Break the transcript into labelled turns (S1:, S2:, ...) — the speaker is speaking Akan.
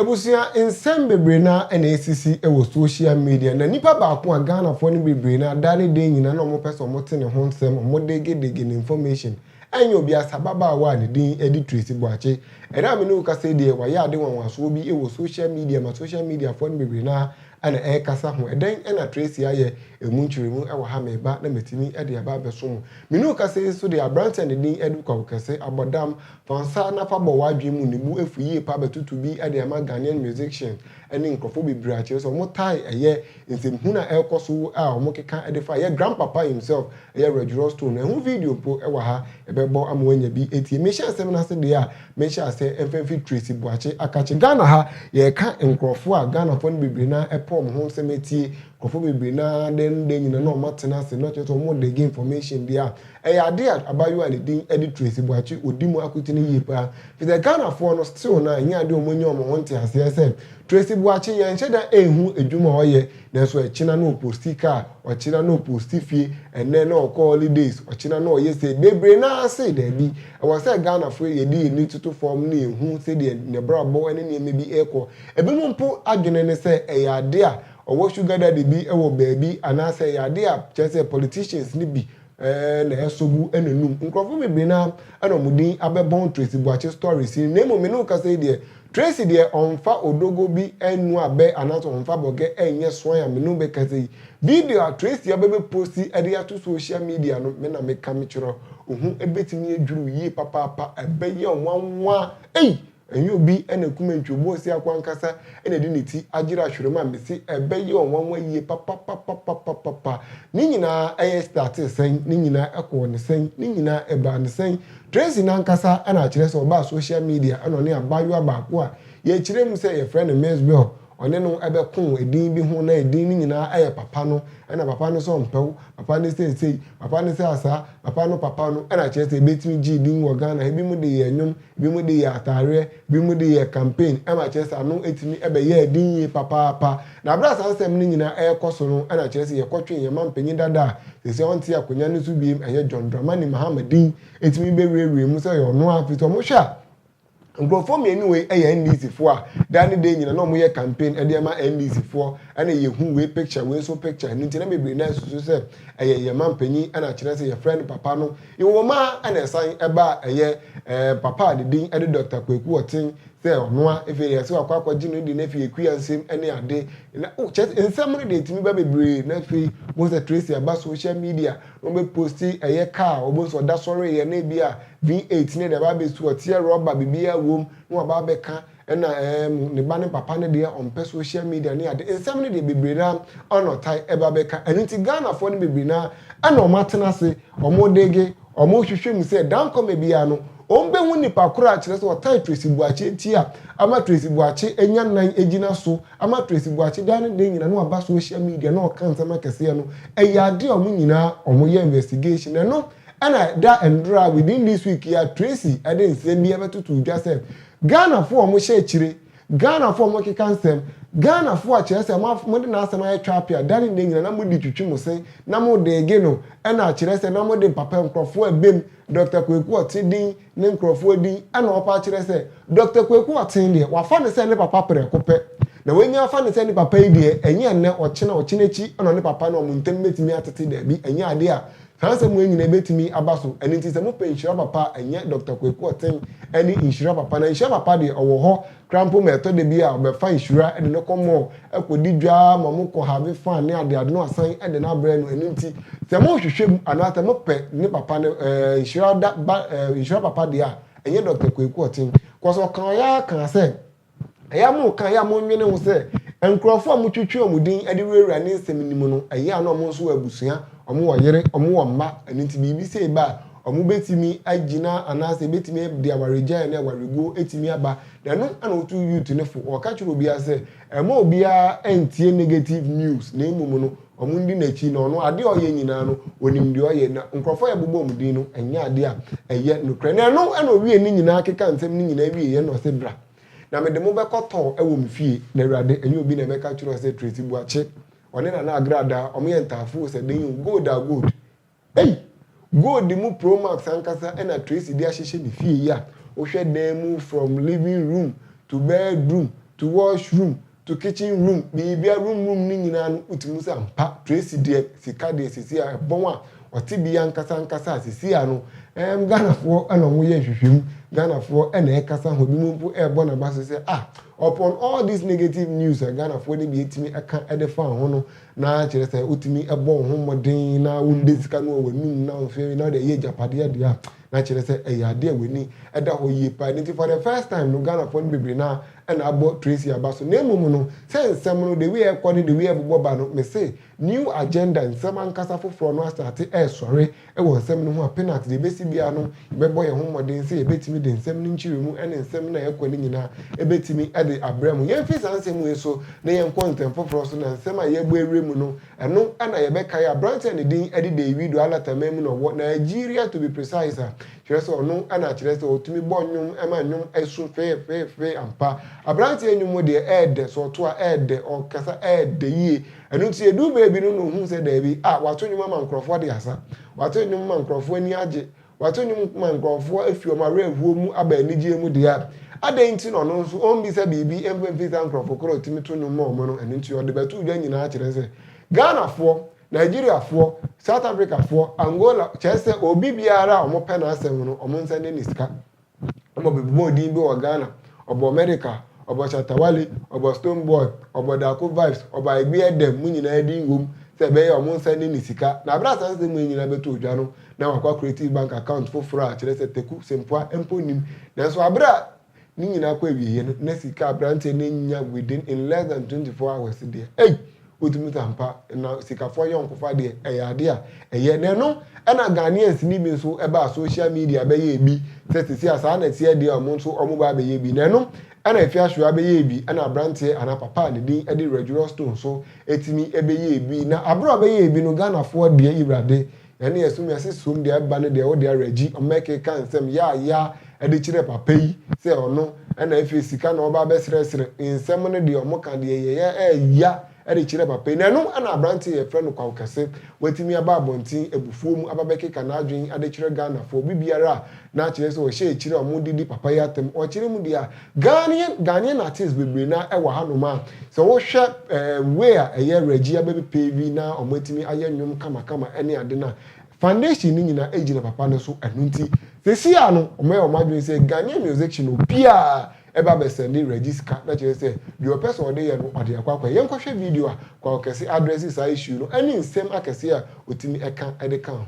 S1: Abusua nsɛm bebree no ara na ɛsisi wɔ social media, na nipa baako a Ghanafoɔ no bebree no ara da ne da nyinaa na wɔpɛ sɛ wɔte ne ho nsɛm, wɔdegedege ne information, Ɛnyɛ obiasa ababaawa a ne din de Tracy Boakye. Ɛnnɛ a me ne wo kasa yi deɛ, wayɛ ade nwanwasoɔ bi wɔ social media ma social media foɔ no bebree no ara na ɛrekasa ho. Ɛdɛn na Tracy ayɛ? Ɛmu nkyerɛmu wɔ ha, mereba na matumi de aba abɛso mo. Me ne wo kasa yi nso deɛ, aberanteɛ a ne din de Kwaku Kɛse, abɔ dam. Fa nsa na fa bɔ w'adwene mu, ne bo afu yie paa bɛtoto bi de ama Ghanaian musicians ne nkurɔfoɔ bebree a kyerɛ sɛ wɔtaa yɛ Nsɛmhunu a ɛrekɔ so a wɔkeka de fa yɛn grandpapa himself, ɛyɛ Reg Rothstone no, ɛho video mpo wɔ ha, yɛbɛbɔ ama woanya bi atie. Mehyɛ nsɛm no ase deɛ a, mehyɛ aseɛ ɛmfa mfiri Tracy Boakye Akakye. Ghana ha, yɛreka nkorɔfoɔ a Ghanafoɔ no bebree no ara pɛ wɔn ho nsɛm atie. Nkorɔfoɔ bebree no ara dɛn ne dɛn nyina no a wɔatena ase no kyerɛ sɛ wɔn dig information deɛ a, ɛyɛ adeɛ a abaayewa a ne din de Tracy Boakye, ɔdi mu akotene yie pa ara. Ɛfiri sɛ Ghanafoɔ no still no a, ɛnyɛ adeɛ a wɔanya wɔn ho nteaseɛ sɛ, Tracy Boakye yɛnhyɛ da nhu adwuma a ɔyɛ nanso ɛkyena na ɔposti car, ɔkyena na ɔposti fie, ɛnnɛ na ɔkɔ holidays, ɔkyena na ɔyɛ sei, bebree no ara se daabi. Ɛwɔ sɛ Ghanafoɔ yɛde yɛn ani toto fam na yɛhu sɛdeɛ n'abrabɔ ne nneɛma bi rekɔ. Ebinom mpo adwene ne sɛ ɛyɛ adeɛ a ɔwɔ sugar daddy bi wɔ baabi anaasɛ ɛyɛ adeɛ a kyerɛ sɛ politicians no bi Ɛɛ na ɛsɔ gu n'anum. Nkurɔfo bebree no ara na wɔn din abɛbɔn Tracy Boakye story sin. Na mmom me ne wo kasa yi deɛ, Tracy deɛ ɔmfa odogo bi nnua bɛ anaasɛ ɔmfa bɔgɛ nyɛ suan a me ne wo bɛkasa yi. Video a Tracy aba bɛposti de ato social media no, me na meka mekyerɛ wo. Wo ho bɛtumi adwiri wo yie papaapa. Ɛbɛyɛ wo nwanwa. Ei! Ɛnyɛ obi na akum antwi, Obuasiakɔ ankasa na ɛde ne ti agyere ahwerem a mese ɛbɛyɛ ɔnwanwa yie papapapapapapa. Ne nyinaa ɛyɛ startee sɛn? Ne nyinaa ɛkɔɔ no sɛn? Ne nyinaa ɛbaa no sɛn? Tracy no ankasa na akyerɛ sɛ ɔbaa social media ɛna ɔne abaayewa baako a yɛkyerɛ mu sɛ yɛfrɛ no Miss Bell ɔne no ɛbɛko ɛdin bi ho na ɛdin no nyinaa ɛyɛ papa no ɛna papa no sɛ ɔmpɛ wo, papa no sɛ sei, papa no sɛ asaa, papa no papa no ɛna akyerɛ sɛ ɛbɛtumi gyee din wɔ Ghana ha, ɛbinom de yɛ nnwom, Binom de yɛ ataareɛ, binom de yɛ campaign ma akyerɛ sɛ ano atumi bɛyɛɛ den yie papaapa. Na berɛ a saa nsɛm no nyinaa rekɔ so no na kyerɛ sɛ yɛkɔtwee yɛn mampanyin dada a seesei ɔnte akonnwa no so biom, ɛyɛ John Dramani Mahama din tumi bɛwurawuraa mu sɛ ɔyɛ ɔno ara. Afei nso wɔhwɛ a, nkurɔfoɔ mmienu wei yɛ NDC foɔ a daa ne daa nyina na wɔyɛ campaign de ama NDC foɔ na yɛhu wei picture wei nso picture. Ɛno nti na bebree no ara susu sɛ ɛyɛ yɛn mampanyin na kyerɛ sɛ yɛfrɛ no papa no. Nwoma a na ɛsan ba a ɛyɛ papa a ne din de Dɔkta Kwaku Ɔten sɛ ɔnoa, afei deɛ sɛ wakɔ akɔgye no de no afiri akua nsam ne ade. Na oh kyɛ nsɛm no deɛ ɛtumi ba bebree na afei bohu sɛ Tracy aba social media na ɔbɛ posti ɛyɛ car a ɔbɛhu sɛ ɔda sɔreeɛ na ebi a V8 ne deɛ aba abɛsu ɔteɛ rɔba biribiara wom na waba abɛka Ɛna ɛɛ mu ne ba ne papa no deɛ ɔmpɛ social media ne ade nsɛm no deɛ bebree no ara ɛna ɔtae ɛba bɛka ɛno nti Ghanafoɔ no bebree no ara ɛna wɔn atena ase wɔn dege wɔn hwehwɛ mu sɛ dankɔmɛ biara no wɔn bɛhu nipa korɔ a kyerɛ sɛ ɔtae Tracy Boakye nti a ama Tracy Boakye anya nan agyina so ama Tracy Boakye daa ne dɛn nyina na waba social media na ɔka nsɛm akɛseɛ no ɛyɛ adeɛ a wɔn nyinaa wɔn yɛ investigation ɛno ɛna ɛda ɛndora within this week yi a Tracy ɛde nsɛm bi ɛbɛtoto dwa sɛ Ghanafoɔ a wɔhyɛ akyire, Ghanafoɔ a wɔkeka nsɛm, Ghanafoɔ a kyerɛ sɛ mo af mode n'asɛm ayɛ twape a dane nnɛ nyina na mode twitwi mo se na mo deege no ɛna akyerɛ sɛ na mode mpapa nkurɔfoɔ a ɛbem Dɔkta Kwaku Ɔtse din ne nkurɔfoɔ din ɛna ɔpa akyerɛ sɛ Dɔkta Kwaku Ɔtse deɛ wafa ne sɛ ne papa prɛko pɛ na wanya afa ne sɛ ne papa yi deɛ ɛnyɛ nnɛ ɔkyena ɔkyena akyi na ɔne papa no wɔn ntam bɛtumi atete daabi ɛnyɛ adeɛ a Saa nsɛm wei nyinaa bɛtumi aba so. Ɛno nti sɛ mopɛ nhyira papa a, ɛnyɛ Dɔkta Kwaku Ɔten ne nhyira papa. Na nhyira papa deɛ, ɔwɔ hɔ koraa mpo ma ɛtɔ da bi a ɔbɛfa nhyira de no kɔ mall kɔdi dwa ma mo kɔ have fun ne adeade na wasan de no abrɛ no. Ɛno nti sɛ mohwehwɛ mu anaa sɛ mopɛ ne papa no nhyira da ba nhyira papa deɛ a, ɛnyɛ Dɔkta Kwaku Ɔten. Cos ɔkaeɛ ara kaa sɛ Ɛyɛ a moka, ɛyɛ a monnwene ho sɛ nkurɔfo a motwetwe wɔn din de wurawura ne nsɛm no mu no, ɛyɛ a na wɔn nso wɔ abusua, wɔwɔ yere, wɔwɔ mma, ɛno nti biribi sei ba a, wɔbɛtumi agyina anaasɛ ɛbɛtumi de awaregyaeɛ ne awareguo atumi aba. Na ɛno na wɔtu youth no fo, wɔka kyerɛ obiara sɛ mma obiara ntie negative news, na mmom no, Wɔdi n'akyi, na ɔno, adeɛ a ɔyɛ nyinaa no, ɔnim deɛ ɔyɛ. Na nkurɔfoɔ a yɛbobɔ wɔn din no, ɛnyɛ adeɛ a ɛyɛ nokorɛ. Na ɛno na ɔwiee ne nyinaa kekaa nsɛm no nyinaa wieeɛ na ɔse, Bra, na mede mo bɛkɔ tɔɔ wɔ me fie. Na Awurade, ɛnyɛ obi na ɛbɛka akyerɛ wo sɛ, Tracy Boakye, ɔne Nana Agradaa, wɔyɛ ntaafoo sɛ dɛn o, gold a gold. Ei! Gold mu pro max ankasa na Tracy de ahyehyɛ ne fie yi a wohwɛ dan mu from living room to bedroom to wash room to kitchen room biribia room room no nyinaa no wotumi hu sɛ ampa Tracy deɛ sika deɛ sesei a ɛbɔn a ɔte bia ankasa ankasa a sesei a no ɛɛm Ghanafoɔ na ɔmo yɛ nhwehwɛmu Ghanafoɔ na ɛɛkasa ho ebinom mpo ɛɛbɔ naba so sɛ ah upon all this negative news a Ghanafoɔ no bi atumi ɛka ɛde faa ho no Na kyerɛ sɛ wotumi bɔ wo ho mmɔden na wode sika no wɔ w'anum na mfe na wode ɛyɛ agyapadeɛ deɛ a, na kyerɛ sɛ ɛyɛ adeɛ a w'ani da hɔ yie paa. Ɛno nti for the first time no, Ghanafoɔ no bebree no ara na abɔ Tracy aba so. Na mmom no, sɛ nsɛm no, the way a ɛrekɔ ne the way a ɛbobɔ ba no, mese New Agenda, nsɛm ankasa foforɔ no asate resɔre. Wɔ nsɛm no ho a, Penax, deɛ ɛbɛsi biara no, yɛbɛbɔ yɛn ho mmɔden sɛ yɛbɛtumi de nsɛm no nkyerɛmu ne nsɛm no a ɛkɔ no nyinaa bɛtumi de abrɛ mo. Yɛmfi saa nsɛm wei so na yɛnkɔ ntɛm foforɔ so, na nsɛm a yɛrebɔ awura mu no, ɛno na yɛbɛkae. Aberanteɛ a ne din de Deiwido a Lata man mu na ɔwɔ, Nigeria to be precise, a kyerɛ sɛ ɔno na akyerɛ sɛ ɔtumi bɔ nnwom ma nnwom su fefeefe ampa. Aberanteɛ nnwom deɛ ɛyɛ dɛ, sɛ ɔto a ɛyɛ dɛ, ɔkasa ɛyɛ dɛ yie. Ɛno nti ɛduu baabi no na ɔhuu sɛ daabi, ah, wato nnwom ama nkurɔfoɔ de asa, wato nnwom ma nkurɔfoɔ ani agye, wato nnwom ma nkurɔfoɔ afi wɔn awerɛhoɔ mu aba anigyeɛ mu deɛ a, adɛn nti na ɔno nso ɔmmisa biribi mfa mfiri saa nkurɔfoɔ korɔ a ɔtumi to nnwom ma wɔn no? Ɛno nti ɔde bɛtoo dwa nyinaa kyerɛ sɛ Ghanafoɔ, Nigeriafoɔ, South Africafoɔ, Angola, kyerɛ sɛ obi biara a wɔpɛ n'asɛm no, wɔnsa nni ne sika. Ɔbɔ bebɔɔ din bi wɔ Ghana, ɔbɔ America, ɔbɔ Shatta Wale, ɔbɔ Stone Boy, ɔbɔ Darko Vibes, ɔbɔ Aeguiah Dem, mo nyinaa din wɔ mu sɛ ɛbɛyɛ a wɔn nsa nni ne sika. Na bere a saa nsɛm yi nyinaa bɛtoo dwa no, na wakɔ akreati bank account foforo a kyerɛ sɛ Teku Sempoah mpo nnim. Nanso bere a ne nyinaa kɔ awieɛ no, na sika a aberanteɛ no anya within in less than twenty four hours deɛ, ei! Wotumi tan pa na sikafoɔ ayɔnkofa deɛ ɛyɛ adeɛ a ɛyɛ na ɛno ɛna Ghanaians ni bi nso ɛbaa social media bɛyɛ ɛbi sɛ sisi a saa na ɛteɛ deɛ a ɔmo nso ɔmo baa bɛyɛ bi na ɛno ɛna Afia Shuah bɛyɛɛ bi ɛna abranteɛ anaa papa a ne din ɛde Regiross Stone nso ɛtumi ɛbɛyɛɛ bi na abere a ɔbɛyɛɛ bi no Ghanafoɔ deɛ Ewurade Na nea ɛso wiase som de aba ne deɛ wɔde awerɛgye ɔma ɛkeka nsɛm yaayaa de kyerɛ papa yi sɛ ɔno na afei sika na ɔreba abɛsrɛsrɛ. Nsɛm no deɛ wɔka deɛ yɛyɛ ɛɛya de kyerɛ papa yi. Na ɛno na aberanteɛ yi a yɛfrɛ no Kwaw Kɛse watumi aba abɔnten abufuo mu aba bɛkeka n'adwene de kyerɛ Ghanafoɔ. Biribiara a na akyerɛ sɛ ɔhyɛ akyire a wɔde di papa yi atɛm, ɔkyerɛ mu deɛ a, Ghanaian Ghanaian artists bebree no ara wɔ hanom a sɛ wohwɛ ɛɛm way a ɛyɛ Reggie abɛbi pavy na wɔn atumi ayɛ nnwom kama kama ɛne ade no a, foundation no nyinaa ɛgyina papa no so ɛno nti sɛsi a no wɔn ayɛ wɔn adwene sɛ Ghanaian musician obiara ɛba bɛ sɛnde Reggie sika na kyerɛ sɛ deɛ ɔpɛ sɛ ɔde yɛ no ɔde akɔ akɔyɛ. Yɛnkɔhwɛ video a Kwawo Kɛse address saa issue no ɛne nsɛm akɛseɛ a ɔtumi ɛka ɛde ka ho.